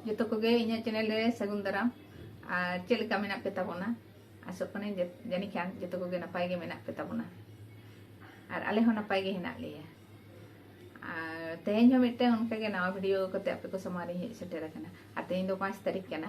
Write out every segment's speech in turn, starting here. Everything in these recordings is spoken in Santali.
ᱡᱚᱛᱚ ᱠᱚᱜᱮ ᱤᱧᱟᱹᱜ ᱪᱮᱱᱮᱞ ᱨᱮ ᱥᱟᱹᱜᱩᱱ ᱫᱟᱨᱟᱢ ᱟᱨ ᱪᱮᱫ ᱞᱮᱠᱟ ᱢᱮᱱᱟᱜ ᱯᱮ ᱛᱟᱵᱚᱱᱟ ᱟᱥᱚᱜ ᱠᱟᱹᱱᱟᱹᱧ ᱡᱟᱹᱱᱤᱡ ᱠᱷᱟᱱ ᱡᱚᱛᱚ ᱠᱚᱜᱮ ᱱᱟᱯᱟᱭ ᱜᱮ ᱢᱮᱱᱟᱜ ᱯᱮ ᱛᱟᱵᱚᱱᱟ ᱟᱨ ᱟᱞᱮ ᱦᱚᱸ ᱱᱟᱯᱟᱭ ᱜᱮ ᱦᱮᱱᱟᱜ ᱞᱮᱭᱟ ᱟᱨ ᱛᱮᱦᱮᱧ ᱦᱚᱸ ᱢᱤᱫᱴᱟᱝ ᱚᱱᱠᱟᱜᱮ ᱱᱟᱣᱟ ᱵᱷᱤᱰᱤᱭᱳ ᱠᱟᱛᱮ ᱟᱯᱮ ᱠᱚ ᱥᱟᱢᱟᱝ ᱨᱤᱧ ᱦᱮᱡ ᱥᱮᱴᱮᱨ ᱟᱠᱟᱱᱟ ᱟᱨ ᱛᱮᱦᱮᱧ ᱫᱚ ᱯᱟᱸᱪ ᱛᱟᱹᱨᱤᱠᱷ ᱠᱟᱱᱟ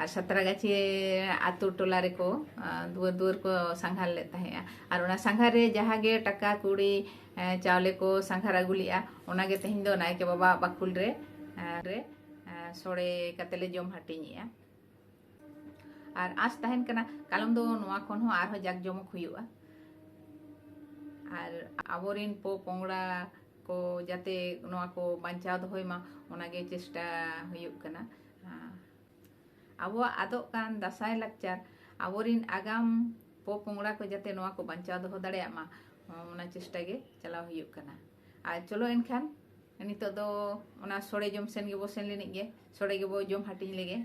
ᱟᱨ ᱥᱟᱛᱨᱟᱜᱟᱪᱷᱤ ᱟᱛᱳ ᱴᱚᱞᱟ ᱨᱮᱠᱚ ᱫᱩᱣᱟᱹᱨ ᱫᱩᱣᱟᱹᱨ ᱠᱚ ᱥᱟᱸᱜᱷᱟᱨ ᱞᱮᱫ ᱛᱟᱦᱮᱸᱜᱼᱟ ᱟᱨ ᱚᱱᱟ ᱥᱟᱸᱜᱷᱟᱨ ᱨᱮ ᱡᱟᱦᱟᱸ ᱜᱮ ᱴᱟᱠᱟ ᱠᱩᱲᱤ ᱪᱟᱣᱞᱮ ᱠᱚ ᱥᱟᱸᱜᱷᱟᱨ ᱟᱹᱜᱩ ᱞᱮᱜᱼᱟ ᱚᱱᱟᱜᱮ ᱛᱮᱦᱮᱧ ᱫᱚ ᱱᱟᱭᱠᱮ ᱵᱟᱵᱟ ᱵᱟᱠᱷᱩᱞ ᱨᱮ ᱨᱮ ᱥᱚᱲᱮ ᱠᱟᱛᱮ ᱞᱮ ᱡᱚᱢ ᱦᱟᱹᱴᱤᱧᱮᱜᱼᱟ ᱟᱨ ᱟᱸᱥ ᱛᱟᱦᱮᱱ ᱠᱟᱱᱟ ᱠᱟᱞᱚᱢ ᱫᱚ ᱱᱚᱣᱟ ᱠᱷᱚᱱ ᱦᱚᱸ ᱟᱨᱦᱚᱸ ᱡᱟᱠ ᱡᱚᱢᱚᱠ ᱦᱩᱭᱩᱜᱼᱟ ᱟᱨ ᱟᱵᱚᱨᱮᱱ ᱯᱚ ᱯᱚᱝᱲᱟ ᱠᱚ ᱡᱟᱛᱮ ᱱᱚᱣᱟ ᱠᱚ ᱵᱟᱧᱪᱟᱣ ᱫᱚᱦᱚᱭ ᱢᱟ ᱚᱱᱟᱜᱮ ᱪᱮᱥᱴᱟ ᱦᱩᱭᱩᱜ ᱠᱟᱱᱟ ᱟᱵᱚᱣᱟᱜ ᱟᱫᱚᱜ ᱠᱟᱱ ᱫᱟᱥᱟᱭ ᱞᱟᱠᱪᱟᱨ ᱟᱵᱚᱨᱤᱱ ᱟᱜᱟᱢ ᱯᱚᱯᱚᱝᱲᱟ ᱠᱚ ᱡᱟᱛᱮ ᱱᱚᱣᱟ ᱠᱚ ᱵᱟᱧᱪᱟᱣ ᱫᱚᱦᱚ ᱫᱟᱲᱮᱭᱟᱜ ᱢᱟ ᱚᱱᱟ ᱪᱮᱥᱴᱟ ᱜᱮ ᱪᱟᱞᱟᱣ ᱦᱩᱭᱩᱜ ᱠᱟᱱᱟ ᱟᱨ ᱪᱚᱞᱚ ᱮᱱᱠᱷᱟᱱ ᱱᱤᱛᱚᱜ ᱫᱚ ᱚᱱᱟ ᱥᱚᱲᱮ ᱡᱚᱢ ᱥᱮᱱ ᱜᱮᱵᱚ ᱥᱮᱱ ᱞᱮᱱᱤᱡ ᱜᱮ ᱥᱚᱲᱮ ᱜᱮᱵᱚ ᱡᱚᱢ ᱦᱟᱹᱴᱤᱧ ᱞᱮᱜᱮ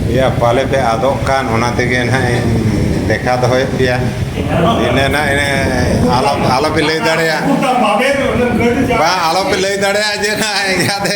ᱮᱭᱟ ᱯᱟᱞᱮ ᱯᱮ ᱟᱫᱚᱜ ᱠᱟᱱ ᱚᱱᱟ ᱛᱮᱜᱮ ᱱᱟᱦᱟᱜ ᱤᱧ ᱞᱮᱠᱷᱟ ᱫᱚᱦᱚᱭᱮᱫ ᱯᱮᱭᱟ ᱤᱱᱟᱹ ᱱᱟᱦᱟᱜ ᱤᱱᱟᱹ ᱟᱞᱚ ᱟᱞᱚ ᱯᱮ ᱞᱟᱹᱭ ᱫᱟᱲᱮᱭᱟᱜ ᱵᱟᱝ ᱟᱞᱚ ᱯᱮ ᱞᱟᱹᱭ ᱫᱟᱲᱮᱭᱟᱜ ᱡᱮ ᱱᱟᱦᱟᱜ ᱤᱱᱠᱟᱹᱛᱮ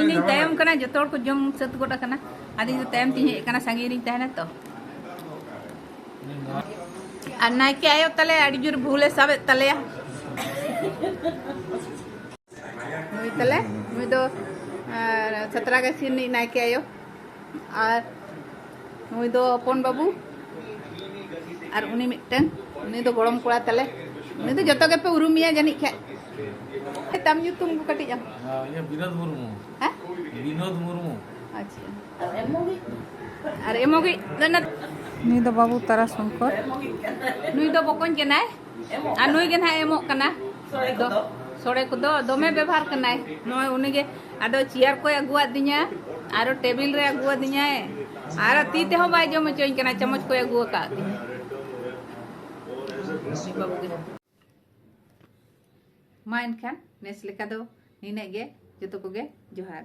ᱤᱧᱤᱧ ᱛᱟᱭᱚᱢ ᱠᱟᱱᱟ ᱡᱚᱛᱚ ᱦᱚᱲ ᱠᱚ ᱡᱚᱢ ᱥᱟᱹᱛ ᱜᱚᱫ ᱟᱠᱟᱱᱟ ᱟᱫᱚ ᱤᱧ ᱫᱚ ᱛᱟᱭᱚᱢ ᱛᱤᱧ ᱦᱮᱡ ᱟᱠᱟᱱᱟ ᱥᱟᱺᱜᱤᱧ ᱨᱤᱧ ᱛᱟᱦᱮᱱᱟ ᱛᱚ ᱟᱨ ᱱᱟᱭᱠᱮ ᱟᱭᱳ ᱛᱟᱞᱮ ᱟᱹᱰᱤ ᱡᱳᱨ ᱵᱷᱩᱞᱮ ᱥᱟᱵᱮᱫ ᱛᱟᱞᱮᱭᱟ ᱱᱩᱭ ᱛᱟᱞᱮ ᱱᱩᱭ ᱫᱚ ᱥᱟᱛᱨᱟᱜᱟᱪᱷᱤ ᱨᱤᱱᱤᱡ ᱱᱟᱭᱠᱮ ᱟᱭᱳ ᱟᱨ ᱱᱩᱭ ᱫᱚ ᱦᱚᱯᱚᱱ ᱵᱟᱹᱵᱩ ᱟᱨ ᱩᱱᱤ ᱢᱤᱫᱴᱮᱱ ᱩᱱᱤ ᱫᱚ ᱜᱚᱲᱚᱢ ᱠᱚᱲᱟ ᱛᱟᱞᱮ ᱩᱱᱤ ᱫᱚ ᱡᱚᱛᱚ ᱜᱮᱯᱮ ᱩᱨᱩᱢᱮᱭᱟ ᱡᱟᱹᱱᱤᱡ ᱠᱷᱟᱡ ᱛᱟᱢ ᱧᱩᱛᱩᱢ ᱠᱚ ᱠᱟᱹᱴᱤᱡ ᱟᱢ ᱤᱧᱟᱹᱜ ᱵᱤᱱᱳᱫ ᱢᱩᱨᱢᱩ ᱦᱮᱸ ᱵᱤᱱᱳᱫ ᱢᱩᱨᱢᱩ ᱟᱪᱪᱷᱟ ᱟᱨ ᱮᱢᱚᱜᱤᱡ ᱫᱚ ᱱᱩᱭ ᱫᱚ ᱵᱟᱹᱵᱩ ᱛᱟᱨᱟ ᱥᱚᱝᱠᱚᱨ ᱱᱩᱭ ᱫᱚ ᱵᱚᱠᱚᱧ ᱠᱟᱱᱟᱭ ᱟᱨ ᱱᱩᱭ ᱜᱮ ᱱᱟᱦᱟᱜ ᱮᱢᱚᱜ ᱠᱟᱱᱟ ᱥᱚᱲᱮ ᱠᱚᱫᱚ ᱫᱚᱢᱮ ᱵᱮᱵᱷᱟᱨ ᱠᱟᱱᱟᱭ ᱱᱚᱜᱼᱚᱭ ᱩᱱᱤᱜᱮ ᱟᱫᱚ ᱪᱮᱭᱟᱨ ᱠᱚᱭ ᱟᱹᱜᱩᱣᱟᱫᱤᱧᱟ ᱟᱨᱚ ᱴᱮᱵᱤᱞ ᱨᱮ ᱟᱹᱜᱩᱣᱟᱫᱤᱧᱟᱭ ᱟᱨ ᱛᱤ ᱛᱮᱦᱚᱸ ᱵᱟᱭ ᱡᱚᱢ ᱦᱚᱪᱚᱧ ᱠᱟᱱᱟ ᱪᱟᱢᱚᱪ ᱠᱚᱭ ᱟᱹᱜᱩ ᱟᱠᱟᱫ ᱛᱤᱧᱟ ᱢᱟ ᱮᱱᱠᱷᱟᱱ ᱱᱮᱥ ᱞᱮᱠᱟ ᱫᱚ ᱱᱤᱱᱟᱹᱜ ᱜᱮ ᱡᱚᱛᱚ ᱠᱚᱜᱮ ᱡᱚᱦᱟᱨ